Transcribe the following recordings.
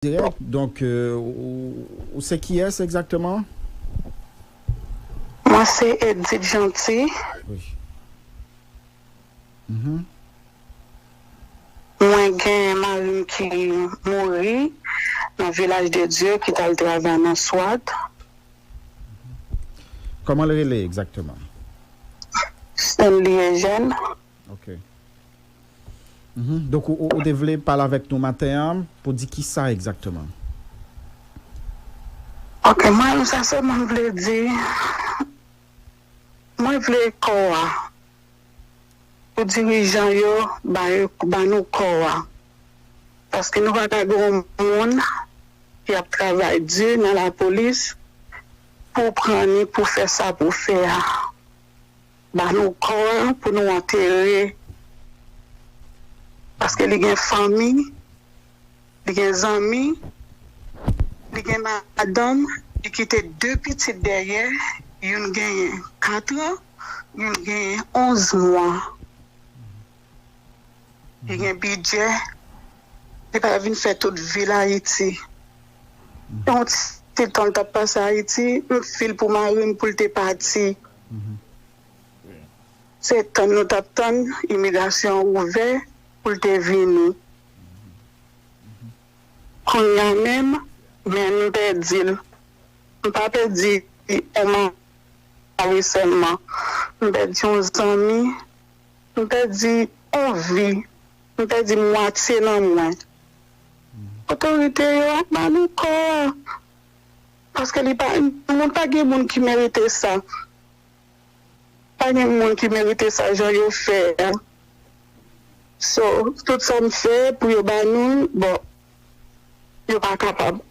dirèk donk ou se kiyès egzakteman? Mwen se Edith Jeanty. Mwen gen mari m ki mouri nan Vilaj de Dye ki t al travay nan Swat. Kòman l rele egzakteman? Stanley Eugène. Ok. Donk ou te vle pale avèk nou maten an pou di kisa egzakteman? Ok mwen sa sèlman m vle di mwen vle kò a pou dirijan yo ba nou kò a paske nou pa ka gen yon moun ki ap travay di nan lapolis pou w pran li pou w fè sa pou w fè a. Ba nou kò a pou nou antere paske li gen fanmi li gen zanmi li gen madanm li kite 2 pitit dèyè youn genyen 4 an youn genyen 11 mwa li gen bidjè li pa vin fè tout vil ayiti yon ti tan li tap pase ayiti m fil pou marim poul te pati. Se tann nou tap tann imigrasyon ouvè poul te vini kounya menm men m pèdil m pa pèdi on mari sèlman m pèdi on zanmi m pèdi on vi m pèdi mwatye nan mwen otorite yo ap ba nou kò. Paske li pa yon moun pa gen moun ki merite sa pa gen moun ki merite sa jan yo fè a so tout sa m fè pou yo ba nou l bon yo pa kapab.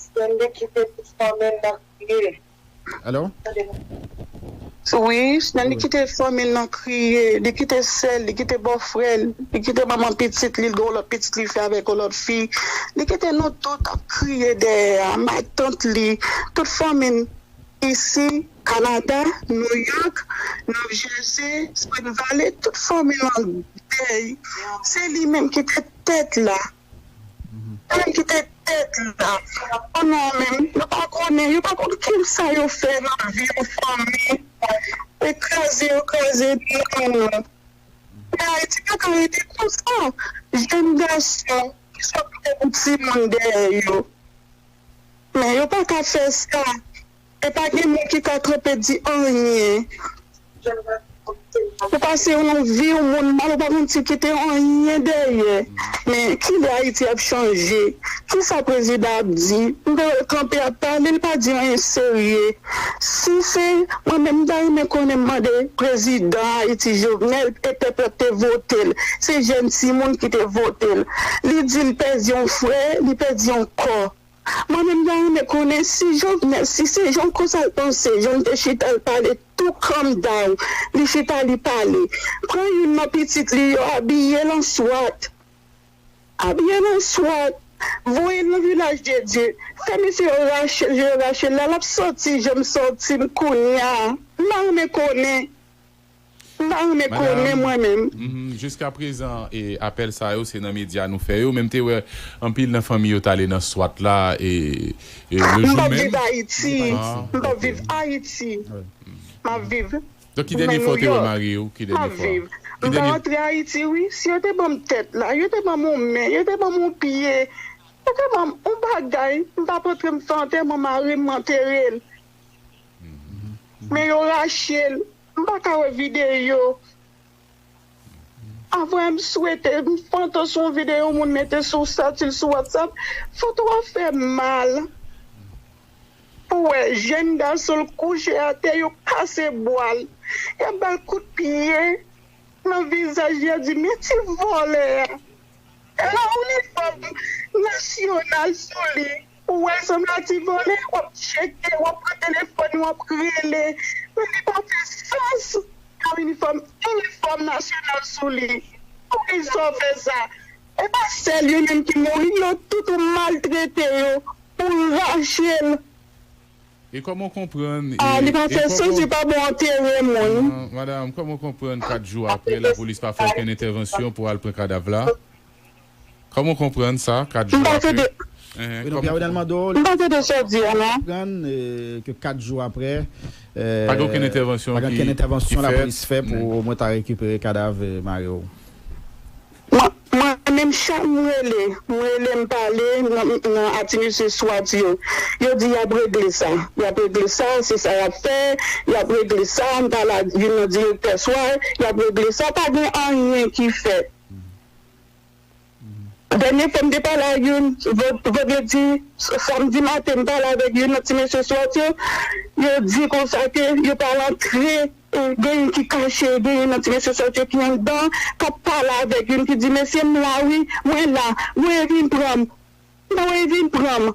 Stanley kite tout fanmi l nan kriye. Alo? Wi, Shnelly kite fanmi l nan kriye, li kite sè l, li kite bòfrè l, li kite manman pitit li, l gen yon lòt pitit li fè avèk yon lòt fi, li kite nou tout ap kriye dèyè a, matant li, tout fanmi n isi, Kanada, Nouyòk, New Jersey, Spring Valley, tout fanmi l an dèy, se li menm ki te tèt la. Ann kite tèt la pou nou menm nou pa konnen yo pa konn kisa yo fè nan vi pou fanmi e kraze yo kraze nanm nou men ayiti paka rete konsa jèn gason ki sot gen pou timoun dèyè yo men yo paka fè sa E pa gen moun ki ka kanpe di anyen ou pase yon viw moun mal ou pa konn si kite anyen dèyè men kilè ayiti ap chanje kisa prezidan ap di m ta wèl kanpe ap pale li pa di anyen serye si se mwen menm m ta renmen konnen m mande prezidan ayiti jovenel e pèp la te votel se jèn timoun ki te votel li di li pèdi yon frè li pèdi yon kò. Mwen menm ta renmen konnen si Jovenel si se jan konsal panse janl te chita l pale tou calm down li chita li pale pran youn nan pitit li yo abiyel an swat abiyel an swat voyel nan vilaj de dye fè mesye yo rachel je yo rachel la lap soti janm soti m kounya m ta renmen konnen. M pa renmen konnen mwen menm. Jiska prezan apèl sa yo se nan medya nou fè yo men m te wè anpil nan fanmi yo t ale nan swat la le jou menm. M pap viv Ayiti, m pap viv Ayiti, m ap viv nan Nouyòk, m ap viv, m ta rantre Ayiti wi si yo te ban m tèt la, yo te ban m yon men, yo te ban m yon pye, yo te ban m yon bagay m t ap rantre m fè antèman mari m m antere l men yo rache l. M paka wè video a vre m swete m pantan sou yon video moun mete sou statil sou whatsapp foto a fèm mal pou wè jèn gason l kouche atè yo kase bwa l yap bal kout pye nan vizaj li yap di men ti vòlè a e la inifòm nasyonal sou li. Ou wè son mati vole wap tcheke wap pran telefòn wap rele men li pa fè sans nan inifòm inifòm nasyonal sou li pou kisa w fè sa e pa sèl yo menm ki mouri yo tout ou maltrete yo pou w rache l. E kòman w konprann e Ah li pa e fè sans kòman li pa bon antere moun. Ahan madam kòman w konprann 4 jou aprè lapolis pa fè okenn entèvansyon pou al pran kadav la? Kòman w konprann sa 4 jou aprè? Reno Pierre Renel Mando li aprann ke 4 jou aprè pa gen okenn entèvansyon lapolis fè pou o mwen ta rekipere kadav mari w. Mwen menm chak m rele m rele m pale nan a ti mesye swat yo yo di y ap regle sa y ap regle sa se sa y ap fè y ap regle sa m pale ak youn nan direktè swa y ap regle sa pa gen anyen ki fèt. Dènye fwa m te pale ak youn vandredi samdi maten m pale avèk youn nan ti mesye swat yo, yo di konsa ke yo pral antre gen youn ki kache gen youn nan ti mesye swat yo ki anndan kap pale avèk youn ki di mesye m la wi mwen la voye vin pran m voye vin pran m.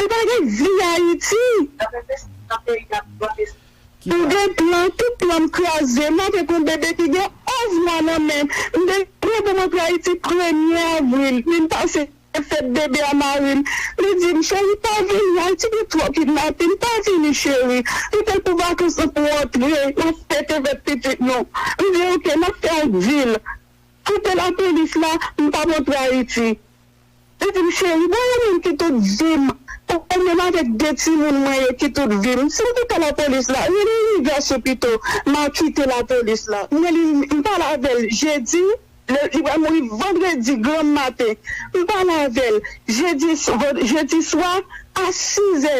Ou pa gen vi ayiti. M gen plan tout plan m kraze m avek yon bebe ki gen 11 mwa nan menm m gen plan pou m antre ayiti premye avril vin pase fèt bebe a marim li dim cheri pa vini ayiti gen twò kidnapin pa vini cheri li fèl pou vakans lan pou w antre nap fete fèt pitit nou m di ok nap fè yon dil kite lapolis la m pap antre ayiti. Li di m cheri bon ou menm ki tout vim ou menm avèk 2 timoun mwen yo ki tout vim si m te pè lapolis la rele imigrasyon pito m a kite lapolis la m rele m pale avè l jedi li pral mouri vandredi granm maten m pale avè l jedi jedi swa a 6 zè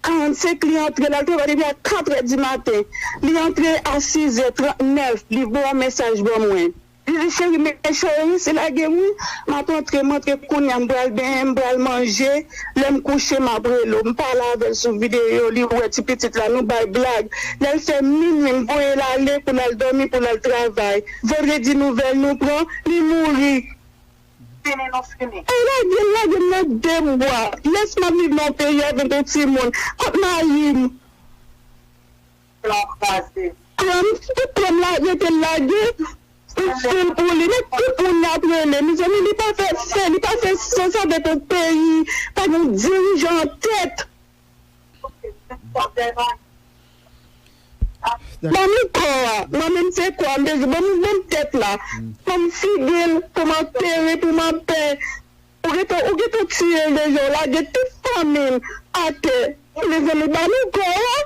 45 li antre l al travay depi a 4 zè di maten li antre a 6 zè 39 li voye yon mesaj ban mwen. Zizi cheri men cheri se lagem wi map antre m antre kounya m pral benyen m pral manje lèm kouche map rele w m pale avèl sou video li wè ti pitit la nou bay blag lèl fè minwi m voyel ale pou lal dòmi pou lal travay vandredi nouvèl nou pran li mouri fini nou fini. Ay lagel lagem nan de mwa lès map viv nan yon peyi avèk yon timoun kot marim. se yon kraze. Klèm tout klèm la rete lage pou fil pou li men tout moun yap rele mezanmi li pa fè fè li pa fè sans avèk yon peyi pa gen yon dirijan an tèt banm kò a mwen menm se kò a m bezwen banm tèt la banm figil pou m antere pou m anpè. Ou gentan ou gentan tiyel deja ou lage tout fanmil atè mezanmi ba nou kò a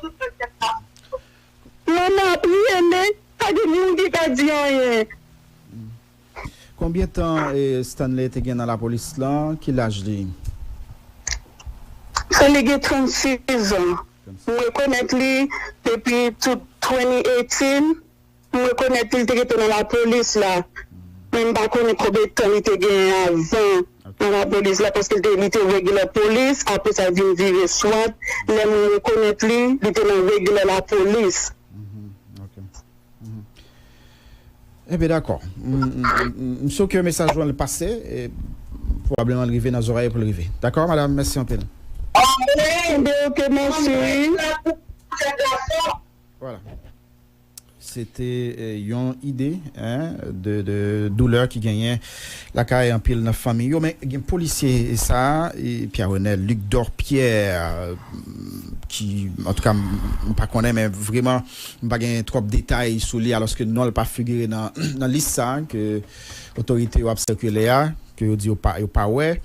manman ap rele pa gen moun ki ka di anyen. Konbyen tan Stanley te gen nan lapolis lan? Ki laj li? Stanley gen 36 zan. M rekonèt li depi 2018. M rekonèt li, li te rete nan lapolis la, men m pa konnen konbyen tan li te genyen avan nan lapolis la, paske li te regilè polis, apre sa l vin vire swat, lè mwen rekonèt li, li te nan regilè lapolis. Enben dakò. M sou ke mesaj ou an l pase, e pwobableman l rive nan zorèy yo pou l rive. Dakò madam, mèsi anpil. Mwen mande ou ke mèsi wi. Voilà. Se te yon ide de doulè ki genyen lakay anpil nan fanmiy yo. Men gen polisye sa a, Pierre Renel Luc Dor Pierre, ki antouka m pa konnen men vreman m pa gen twòp detay sou li alòske non l pa figire nan lis sa a ke otorite yo ap sikile a, ke yo di yo pa wè.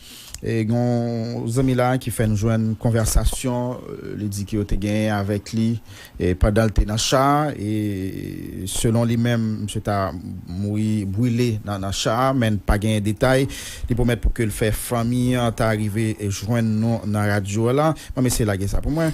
Gen yon zanmi la ki fè n jwenn konvèsasyon li di ke yo te genyen avèk li pandan l te nan cha a e selon li menm misye ta mouri brile nan cha a men n pa genyen detay. Li pwomèt pou ke l fè fanmi an ta rive jwenn nou nan radyo la. Banm eseye lage sa pou mwen.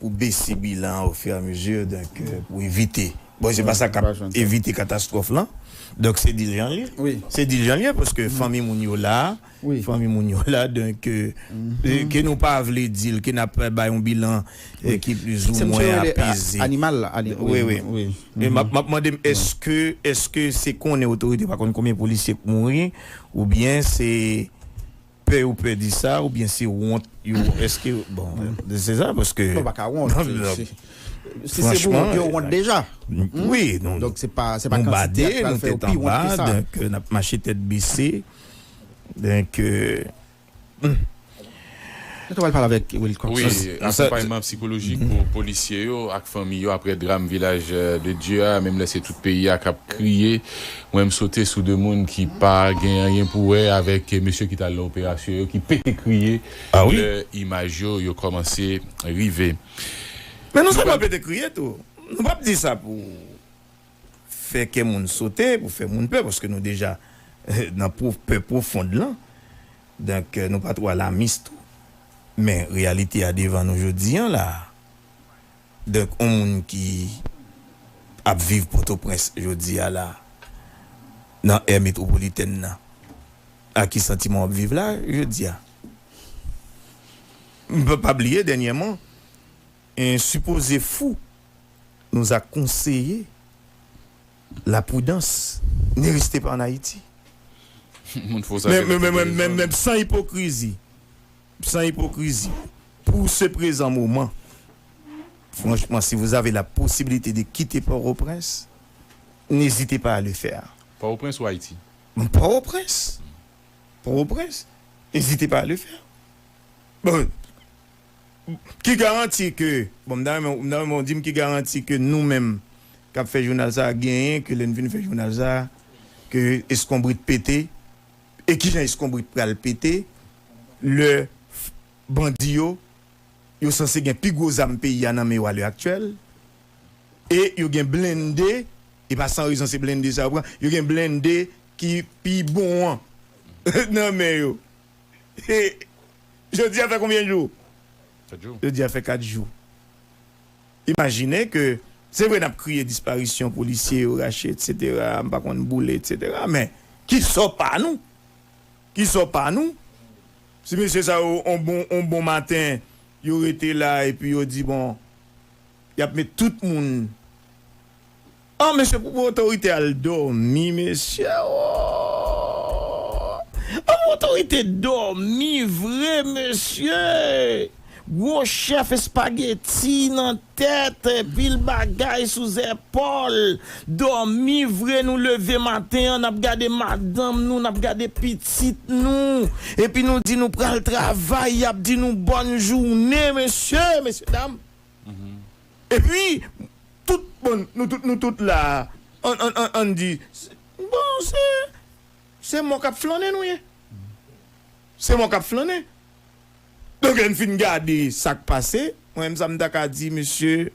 pou bese bilan an ofiramezi donk pou evite bon se pa sa kap evite katastwòf lan donk se di l jan l ye se di l jan l ye paske fanmi moun yo la fanmi moun yo la donk ke nou pa vle di l ke n ap bay yon bilan ki plizoumwen apeze wi wi m ap mande m èske èske se konnen otorite pa konnen konbyen polisye k mouri oubyen se. Pè yo pè di sa ou byen se wont yo eske bon se sa paske yo paka wont si se pou wont yo wont deja wi nou bade nou tèt anba donk nap mache tèt bese donk nou ta pral pale avèk wilcox wi akonpayman psikolojik pou polisye yo ak fanmi yo aprè dram vilaj de dye a menm lè se tout peyi a kap kriye. Mwen m sote sou 2 moun ki pa gen anyen pou wè avèk mesye ki t al nan operasyon yo ki pete kriye lè imaj yo yo kòmanse rive. Men nou sèlman pete kriye tou. Nou p ap di sa pou fè kè moun sote, pou fè moun pè paske nou deja nan pè pwofond lan. Donk nou pa twò alamis tou. Men reyalite a devan nou jodi an la a. Donk on moun ki ap viv Pòtoprens jodi a la, nan è metwopolitèn nan, ak ki santiman w ap viv la jodi a? M pa pa bliye dènyèman, en sipoze fou nous a conseillé la prudence, ne restez pas en Haïti. Moun fou sa gen lè pou gen rezon l. Menm san ipokrizi. San ipokrizi, pou se prezan moman, franchman si vous avez la possibilité de quitter Port-au-Prince, n'hésitez pas à le faire. Port-au-Prince ou Haïti? Port-au-Prince! Port-au-Prince! N'hésitez pas à le faire. Bon, ki garanti ke, bon m ta renmen, m ta renmen w di m ki garanti ke nou menm k'ap fè jounal sa a genyen ke lè n fin fè jounal sa a ke eskonbrit pete? E kijan eskonbrit pral pete lè bandi yo, yo sanse gen pi gwo zam peyi a nan men yo a lè aktyèl, e yo gen blende, e pa san rezon se blende sa yo pran, yo gen blende ki pi bon an nan men yo. E jodi a fè konbyen jou? Jodi a fè 4 jou. Imajine ke, se vre nap kriye disparisyon polisye yo rache etc m pa konn boule etc men ki sò pa nou? Ki sò pa nou? Si mesye sa yo on bon on bon maten yo rete la epi yo di bon yap met tout moun. An mesye pou otorite al domi mesye ooh an pou otorite domi vre mesye gwo chef espageti nan tet pil bagay sou zepol domi vre nou leve maten an nap gade madanm nou nap gade pitit nou epi nou di nou pral travay yap di nou bonne joune mesye mesye dam. Epi, tout, bon, nou tout, nou tout la a, an, an, an, ann di, se, bon, se, se mò k ap flannen nou ye. Se mò k ap flannen. Donk, lè n fin gade sa k pase, mwen menm sa m ta ka di, mesye,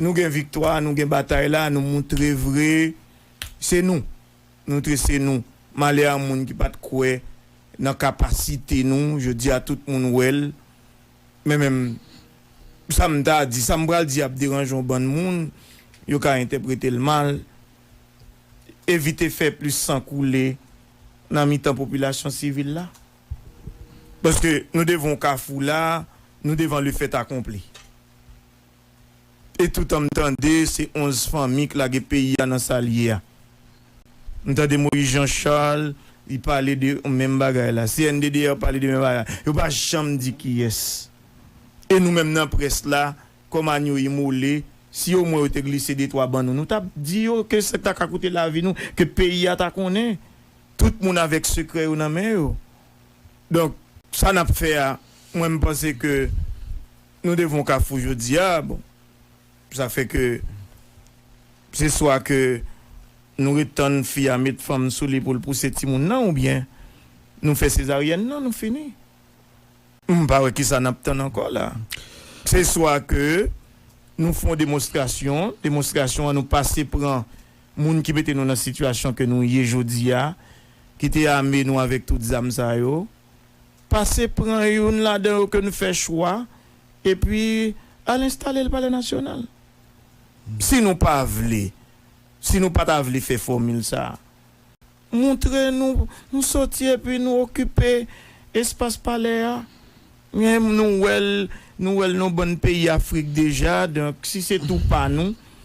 nou gen viktwa, nou gen batay la, nou moutre vre, se nou. Nou moutre se nou. Malè a moun ki pa t kwè nan kapasite nou, jodi a tout moun wè l. Men menm sa m ta di, sa m pral di ap deranje yon bann moun, yo ka entèprete l mal. Evite fè plis san koule nan mitan popilasyon sivil la. Paske nou devan yon kafou la, nou devan le fèt akonpli. e toutan m tande se 11 fanmi k lage peyi a nan sa l ye a. M tande Moïse Jean Charles li pale de menm bagay la. CNDDR pale de menm bagay la. Yo pa janm di kiyès. E nou menm nan près la, kòm anyo imole, si omwen yo te glise detwa ban nou, nou t ap di yo ke sa ta ka koute lavi nou, ke peyi a ta konnen. Tout moun avèk sekrè yo nan men yo. Donk, sa n ap fè a, mwen m panse ke. Nou devan yon kafou jodi a, bon, sa fè ke se swa ke nou ret tann fi a met fanm sou li pou l pouse timoun nan oubyen nou fè sezaryèn nan nou fini. M pa wè kisa n ap tann ankò la. Se swa ke nou fè yon demonstrasyon, demonstrasyon an nou pase pran moun ki mete nou nan sitiyasyon ke nou ye jodi a, ki te ame nou avèk tout zam sa yo. pase pran youn ladan yo ke n fè chwa epi al enstale l Palè Nasyonal. Si nou pa vle, si nou pa ta vle fè fòmil sa a, moutre nou nou soti epi nou okipe espas Palè a. Nou wè l, nou wè l nan yon bann peyi Afrik deja, donk si se tou pa nou.